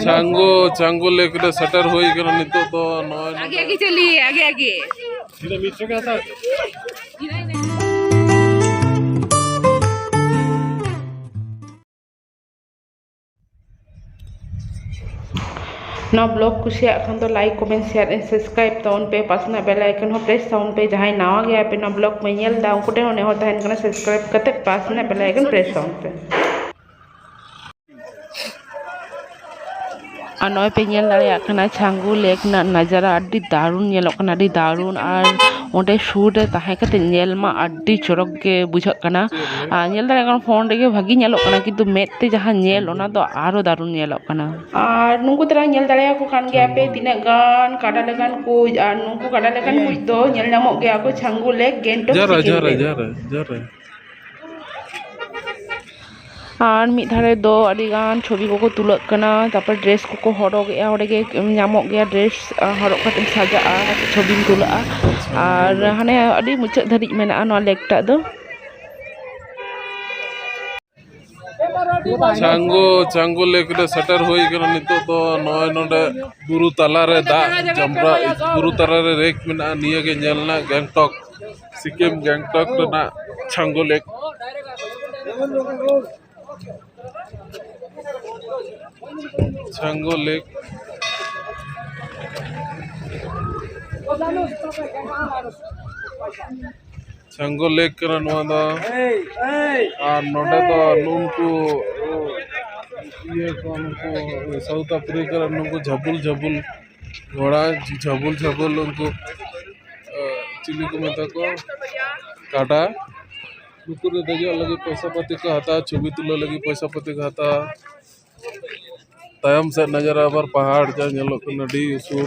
ᱪᱟᱝᱜᱳ ᱪᱟᱝᱜᱳ ᱞᱮᱠ ᱨᱮ ᱥᱮᱴᱮᱨ ᱦᱩᱭ ᱠᱟᱱᱟ ᱱᱤᱛᱚᱜ ᱫᱚ ᱱᱚᱜᱼᱚᱭ ᱟᱜᱮ ᱟᱜᱮ ᱪᱟᱞᱤᱭᱮ ᱟᱜᱮ ᱟᱜᱮ ᱤᱧ ᱢᱤᱫ ᱥᱚᱜᱮ ᱦᱟᱛᱟᱣ ᱱᱚᱣᱟ ᱵᱞᱚᱜ ᱠᱩᱥᱤᱭᱟᱜ ᱠᱷᱟᱱ ᱫᱚ like comment share and subscribe ᱛᱟᱵᱚᱱ ᱯᱮ ᱯᱟᱥᱱᱟ ᱵᱮᱞ ᱟᱭᱠᱚᱱ ᱦᱚᱸ ᱯᱨᱮᱥ ᱛᱟᱵᱚᱱ ᱯᱮ ᱡᱟᱦᱟᱸᱭ ᱱᱟᱣᱟ ᱜᱮᱭᱟ ᱯᱮ ᱱᱚᱣᱟ ᱵᱞᱚᱜ ᱯᱮ ᱧᱮᱞ ᱫᱟ ᱩᱱᱠᱩ ᱴᱷᱮᱱ ᱦᱚᱸ ᱱᱮᱦᱚᱨ ᱛᱟᱦᱮᱱ ᱠᱟᱱᱟ ᱥᱟᱵᱥᱠᱨᱟᱭᱤᱵ ᱠᱟᱛᱮ ᱯᱟᱥᱱᱟ ᱵᱮᱞ ᱟᱭᱠᱚᱱ ᱯᱨᱮᱥ ᱛᱟᱵᱚᱱ ᱯᱮ ᱟᱨ ᱱᱚᱜᱼᱚᱭ ᱯᱮ ᱧᱮᱞ ᱫᱟᱲᱮᱭᱟᱜ ᱠᱟᱱᱟ ᱪᱷᱟᱝᱜᱩ ᱞᱮᱠ ᱨᱮᱱᱟᱜ ᱱᱟᱡᱟᱨᱟ ᱟᱹᱰᱤ ᱫᱟᱨᱩᱱ ᱧᱮᱞᱚᱜ ᱠᱟᱱᱟ ᱟᱹᱰᱤ ᱫᱟᱨᱩᱱ ᱟᱨ ᱚᱸᱰᱮ ᱥᱩᱨ ᱨᱮ ᱛᱟᱦᱮᱸ ᱠᱟᱛᱮ ᱧᱮᱞ ᱢᱟ ᱟᱹᱰᱤ ᱪᱚᱨᱚᱠ ᱜᱮ ᱵᱩᱡᱷᱟᱹᱜ ᱠᱟᱱᱟ ᱟᱨ ᱧᱮᱞ ᱫᱟᱲᱮᱭᱟᱜ ᱠᱟᱱᱟᱢ ᱯᱷᱳᱱ ᱨᱮᱜᱮ ᱵᱷᱟᱹᱜᱤ ᱧᱮᱞᱚᱜ ᱠᱟᱱᱟ ᱠᱤᱱᱛᱩ ᱢᱮᱫ ᱛᱮ ᱡᱟᱦᱟᱸ ᱧᱮᱞ ᱚᱱᱟ ᱫᱚ ᱟᱨᱚ ᱫᱟᱨᱩᱱ ᱧᱮᱞᱚᱜ ᱠᱟᱱᱟ ᱟᱨ ᱱᱩᱠᱩ ᱛᱟᱨᱟ ᱧᱮᱞ ᱫᱟᱲᱮᱭᱟᱠᱚ ᱠᱟᱱ ᱜᱮᱭᱟ ᱯᱮ ᱛᱤᱱᱟᱹᱜ ᱜᱟᱱ ᱠᱟᱰᱟ ᱞᱮᱠᱟᱱ ᱠᱩᱡ ᱟᱨ ᱱᱩᱠᱩ ᱠᱟᱰᱟ ᱞᱮᱠᱟᱱ ᱠᱩᱡ ᱫᱚ ᱧᱮᱞ ᱧᱟᱢᱚᱜ ᱜᱮᱭᱟ ᱠᱚ ᱪᱷᱟᱝᱜᱩ ᱞᱮᱠ ᱜᱮᱝᱴᱚᱠ ᱥᱤᱠᱤᱢ ᱨᱮ ᱟᱨ ᱢᱤᱫ ᱫᱷᱟᱨᱮ ᱫᱚ ᱟᱹᱰᱤᱜᱟᱱ ᱪᱷᱚᱵᱤ ᱠᱚᱠᱚ ᱛᱩᱞᱟᱹᱜ ᱠᱟᱱᱟ ᱛᱟᱨᱯᱚᱨ ᱰᱨᱮᱥ ᱠᱚᱠᱚ ᱦᱚᱨᱚᱜᱽ ᱮᱜᱼᱟ ᱚᱸᱰᱮ ᱜᱮ ᱧᱟᱢᱚᱜ ᱜᱮᱭᱟ ᱰᱨᱮᱥ ᱦᱚᱨᱚᱜ ᱠᱟᱛᱮᱢ ᱥᱟᱡᱟᱜᱼᱟ ᱠᱟᱹᱴᱤᱡ ᱪᱷᱚᱵᱤᱢ ᱛᱩᱞᱟᱹᱜᱼᱟ ᱟᱨ ᱦᱟᱱᱮ ᱟᱹᱰᱤ ᱢᱩᱪᱟᱹᱫ ᱫᱷᱟᱹᱵᱤᱡ ᱢᱮᱱᱟᱜᱼᱟ ᱱᱚᱣᱟ ᱞᱮᱠ ᱴᱟᱜ ᱫᱚ ᱪᱟᱝᱜᱩ ᱪᱟᱝᱜᱩ ᱞᱮᱠ ᱨᱮ ᱥᱮᱴᱮᱨ ᱦᱩᱭ ᱠᱟᱱᱟ ᱱᱤᱛᱚᱜ ᱫᱚ ᱱᱚᱜᱼᱚᱭ ᱱᱚᱰᱮ ᱵᱩᱨᱩ ᱛᱟᱞᱟᱨᱮ ᱫᱟᱜ ᱡᱟᱢᱨᱟ ᱵᱩᱨᱩ ᱛᱟᱞᱟᱨᱮ ᱨᱮᱠ ᱢᱮᱱᱟᱜᱼᱟ ᱱᱤᱭᱟᱹ ᱜᱮ ᱧᱮᱞ ᱨᱮᱱᱟᱜ ᱜᱮᱝᱴᱚᱠ ᱥᱤᱠᱤᱢ ᱜᱮᱝᱴᱚᱠ ᱨᱮᱱᱟᱜ ᱪᱟᱝᱜᱩ ᱞᱮᱠ ᱪᱟᱝᱜᱩ ᱞᱮᱠ ᱥᱟᱝᱜᱚ ᱞᱮᱠ ᱠᱟᱱᱟ ᱱᱚᱣᱟ ᱫᱚ ᱟᱨ ᱱᱚᱰᱮ ᱫᱚ ᱱᱩᱝᱠᱩ ᱤᱭᱟᱹ ᱠᱚ ᱱᱩᱠᱩ ᱥᱟᱣᱩᱛᱷ ᱟᱯᱷᱨᱤᱠᱟ ᱨᱮᱱ ᱱᱩᱠᱩ ᱡᱷᱟᱹᱵᱩᱞ ᱡᱷᱟᱹᱵᱩᱞ ᱜᱷᱚᱲᱟ ᱡᱷᱟᱹᱵᱩᱞ ᱡᱷᱟᱹᱵᱩᱞ ᱩᱱᱠᱩ ᱪᱤᱞᱤ ᱠᱚ ᱢᱮᱛᱟ ᱠᱚᱣᱟ ᱠᱟᱰᱟ ᱱᱩᱠᱩ ᱨᱮ ᱫᱮᱡᱚᱜ ᱞᱟᱹᱜᱤᱫ ᱯᱚᱭᱥᱟ ᱯᱟᱹᱛᱤ ᱠᱚ ᱦᱟᱛᱟᱣᱟ ᱪᱷᱚᱵᱤ ᱛᱩᱞᱟᱹᱣ ᱞᱟᱹᱜᱤᱫ ᱯᱚᱭᱥᱟ ᱯᱟᱹᱛᱤ ᱠᱚ ᱦᱟᱛᱟᱣᱟ ᱛᱟᱭᱚᱢ ᱥᱮᱫ ᱱᱚᱡᱚᱨᱟ ᱟᱵᱟᱨ ᱯᱟᱦᱟᱲ ᱡᱟ ᱧᱮᱞᱚᱜ ᱠᱟᱱᱟ ᱟᱹᱰᱤ ᱩᱥᱩᱞ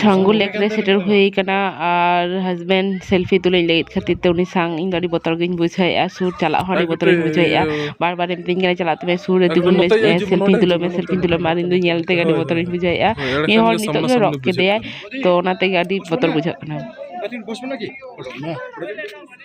ᱪᱷᱟᱝᱜᱩ ᱞᱮᱠ ᱨᱮ ᱥᱮᱴᱮᱨ ᱦᱩᱭ ᱠᱟᱱᱟ ᱟᱨ ᱦᱟᱡᱽᱵᱮᱱᱰ ᱥᱮᱞᱯᱷᱤ ᱛᱩᱞᱟᱹᱣᱤᱧ ᱞᱟᱹᱭᱮᱫ ᱠᱷᱟᱹᱛᱤᱨ ᱛᱮ ᱩᱱᱤ ᱥᱟᱝ ᱤᱧ ᱫᱚ ᱟᱹᱰᱤ ᱵᱚᱛᱚᱨ ᱜᱤᱧ ᱵᱩᱡᱷᱟᱹᱣᱮᱫᱼᱟ ᱥᱩᱨ ᱪᱟᱞᱟᱜ ᱦᱚᱸ ᱟᱹᱰᱤ ᱵᱚᱛᱚᱨᱤᱧ ᱵᱩᱡᱷᱟᱹᱣᱮᱫᱼᱟ ᱵᱟᱨ ᱵᱟᱨᱮ ᱢᱤᱛᱟᱹᱧ ᱠᱟᱱᱟ ᱪᱟᱞᱟᱜ ᱛᱮ ᱥᱩᱨ ᱨᱮ ᱛᱤᱸᱜᱩᱱ ᱢᱮ ᱥᱮᱞᱯᱷᱤ ᱛᱩᱞᱟᱹᱣ ᱢᱮ ᱥᱮᱞᱯᱷᱤ ᱛᱩᱞᱟᱹᱣ ᱢᱮ ᱟᱨ ᱤᱧ ᱫᱚ ᱧᱮᱞ ᱛᱮᱜᱮ ᱟᱹᱰᱤ ᱵᱚᱛᱚᱨᱤᱧ ᱵᱩᱡᱷᱟᱹᱣᱮᱫᱼᱟ ᱢᱤᱫ ᱦᱚᱲ ᱱᱤᱛᱚᱜ ᱜᱮ ᱨᱚᱜ ᱠᱮᱫᱮᱭᱟᱭ ᱛᱳ ᱚᱱᱟ ᱛᱮᱜᱮ ᱟᱹᱰᱤ ᱵᱚᱛᱚᱨ ᱵᱩᱡᱷᱟᱹᱜ ᱠᱟᱱᱟ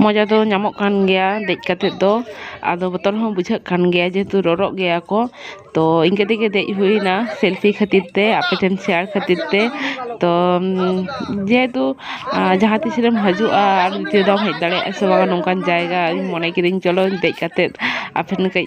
ᱢᱚᱡᱟ ᱫᱚ ᱧᱟᱢᱚᱜ ᱠᱟᱱ ᱜᱮᱭᱟ ᱫᱮᱡ ᱠᱟᱛᱮ ᱫᱚ ᱟᱫᱚ ᱵᱚᱛᱚᱨ ᱦᱚᱸ ᱵᱩᱡᱷᱟᱹᱜ ᱠᱟᱱ ᱜᱮᱭᱟ ᱡᱮᱦᱮᱛᱩ ᱨᱚᱨᱚᱜ ᱜᱮᱭᱟ ᱠᱚ ᱛᱚ ᱤᱱᱠᱟᱹ ᱛᱮᱜᱮ ᱫᱮᱡ ᱦᱩᱭᱱᱟ ᱥᱮᱞᱯᱷᱤ ᱠᱷᱟᱹᱛᱤᱨ ᱛᱮ ᱟᱯᱮ ᱴᱷᱮᱱ ᱥᱮᱭᱟᱨ ᱠᱷᱟᱹᱛᱤᱨ ᱛᱮ ᱛᱚ ᱡᱮᱦᱮᱛᱩ ᱡᱟᱦᱟᱸ ᱛᱤᱥ ᱨᱮᱢ ᱦᱤᱡᱩᱜᱼᱟ ᱟᱨ ᱱᱤᱛᱚᱜ ᱫᱚ ᱵᱟᱢ ᱦᱮᱡ ᱫᱟᱲᱮᱭᱟᱜᱼᱟ ᱥᱮ ᱵᱟᱝ ᱱᱚᱝᱠᱟᱱ ᱡᱟᱭᱜᱟ ᱤᱧ ᱢᱚᱱᱮ ᱠᱤᱫᱟᱹᱧ ᱪᱚᱞᱚ ᱫᱮᱡ ᱠᱟᱛᱮ ᱟᱯᱮ ᱴᱷᱮᱱ ᱠᱟᱹᱡ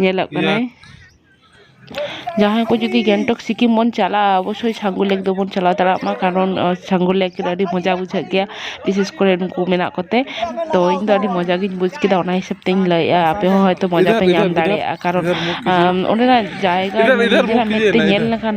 ᱧᱮᱞᱚᱜ ᱠᱟᱱᱟᱭ ᱡᱟᱦᱟᱸᱭ ᱠᱚ ᱡᱩᱫᱤ ᱜᱮᱝᱴᱚᱠ ᱥᱤᱠᱤᱢ ᱵᱚᱱ ᱪᱟᱞᱟᱜᱼᱟ ᱚᱵᱚᱥᱥᱳᱭ ᱪᱷᱟᱝᱜᱩ ᱞᱮᱠ ᱫᱚᱵᱚᱱ ᱪᱟᱞᱟᱣ ᱫᱟᱲᱮᱭᱟᱜ ᱢᱟ ᱠᱟᱨᱚᱱ ᱪᱷᱟᱝᱜᱩ ᱞᱮᱠ ᱨᱮ ᱟᱹᱰᱤ ᱢᱚᱡᱟ ᱵᱩᱡᱷᱟᱹᱜ ᱜᱮᱭᱟ ᱵᱤᱥᱮᱥ ᱠᱚᱨᱮ ᱱᱩᱠᱩ ᱢᱮᱱᱟᱜ ᱠᱚᱛᱮ ᱛᱚ ᱤᱧ ᱫᱚ ᱟᱹᱰᱤ ᱢᱚᱡᱟ ᱜᱤᱧ ᱵᱩᱡᱽ ᱠᱮᱫᱟ ᱚᱱᱟ ᱦᱤᱥᱟᱹᱵ ᱛᱤᱧ ᱞᱟᱹᱭᱮᱫᱼᱟ ᱟᱯᱮ ᱦᱚᱸ ᱦᱚᱭᱛᱳ ᱢᱚᱡᱟ ᱯᱮ ᱧᱟᱢ ᱫᱟᱲᱮᱭᱟᱜᱼᱟ ᱠᱟᱨᱚᱱ ᱚᱸᱰᱮᱱᱟᱜ ᱡᱟᱭᱜᱟ ᱱᱤᱡᱮᱨᱟᱜ ᱢᱮᱫ ᱛᱮ ᱧᱮᱞ ᱞᱮᱠᱷᱟᱱ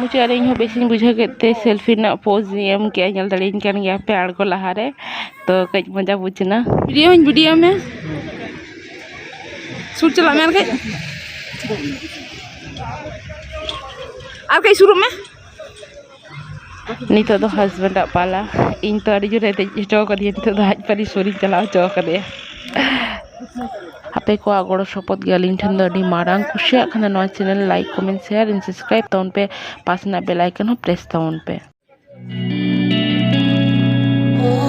ᱢᱩᱪᱟᱹᱫ ᱨᱮ ᱤᱧᱦᱚᱸ ᱵᱮᱥᱤᱧ ᱵᱩᱡᱷᱟᱹᱣ ᱠᱮᱫ ᱛᱮ ᱥᱮᱞᱯᱷᱤ ᱨᱮᱱᱟᱜ ᱯᱳᱡᱽ ᱤᱧ ᱮᱢ ᱠᱮᱫᱼᱟ ᱧᱮᱞ ᱫᱟᱲᱮᱭᱟᱹᱧ ᱠᱟᱱ ᱜᱮᱭᱟ ᱯᱮ ᱟᱬᱜᱚ ᱞᱟᱦᱟᱨᱮ ᱛᱳ ᱠᱟᱹᱡ ᱢᱚᱡᱟ ᱵᱩᱡᱽ ᱮᱱᱟ ᱵᱷᱤᱰᱤᱭᱳ ᱦᱚᱸᱧ ᱵᱷᱤᱰᱤᱭᱳ ᱢᱮ ᱥᱩᱨ ᱪᱟᱞᱟᱜ ᱢᱮ ᱟᱨ ᱠᱟᱹᱡ ᱟᱨ ᱠᱟᱹᱡ ᱥᱩᱨᱩᱜ ᱢᱮ ᱱᱤᱛᱚᱜ ᱫᱚ ᱦᱟᱥᱵᱮᱱᱰ ᱟᱜ ᱯᱟᱞᱟ ᱤᱧ ᱛᱚ ᱟᱹᱰᱤ ᱡᱳᱨᱮ ᱫᱮᱡ ᱦᱚᱪᱚ ᱠᱟᱹᱫᱤᱧᱟ ᱱᱤᱛᱚᱜ ᱫᱚ ᱟᱡ ᱯᱟᱹᱨᱤᱥ ᱥᱩᱨᱤᱧ ᱪᱟᱞᱟᱣ ᱦᱚᱪᱚ ᱠᱟᱫᱮᱭᱟ ᱟᱯᱮ ᱠᱚᱣᱟᱜ ᱜᱚᱲᱚ ᱥᱚᱯᱚᱦᱚᱫ ᱜᱮ ᱟᱹᱞᱤᱧ ᱴᱷᱮᱱ ᱫᱚ ᱟᱹᱰᱤ ᱢᱟᱨᱟᱝ ᱠᱩᱥᱤᱭᱟᱜ ᱠᱷᱟᱱ ᱫᱚ ᱱᱚᱣᱟ channel like comment share and subscribe ᱛᱟᱵᱚᱱ ᱯᱮ ᱯᱟᱥᱮ ᱨᱮᱱᱟᱜ ᱵᱮᱞ ᱟᱭᱠᱚᱱ ᱦᱚᱸ ᱯᱨᱮᱥ ᱛᱟᱵᱚᱱ ᱯᱮ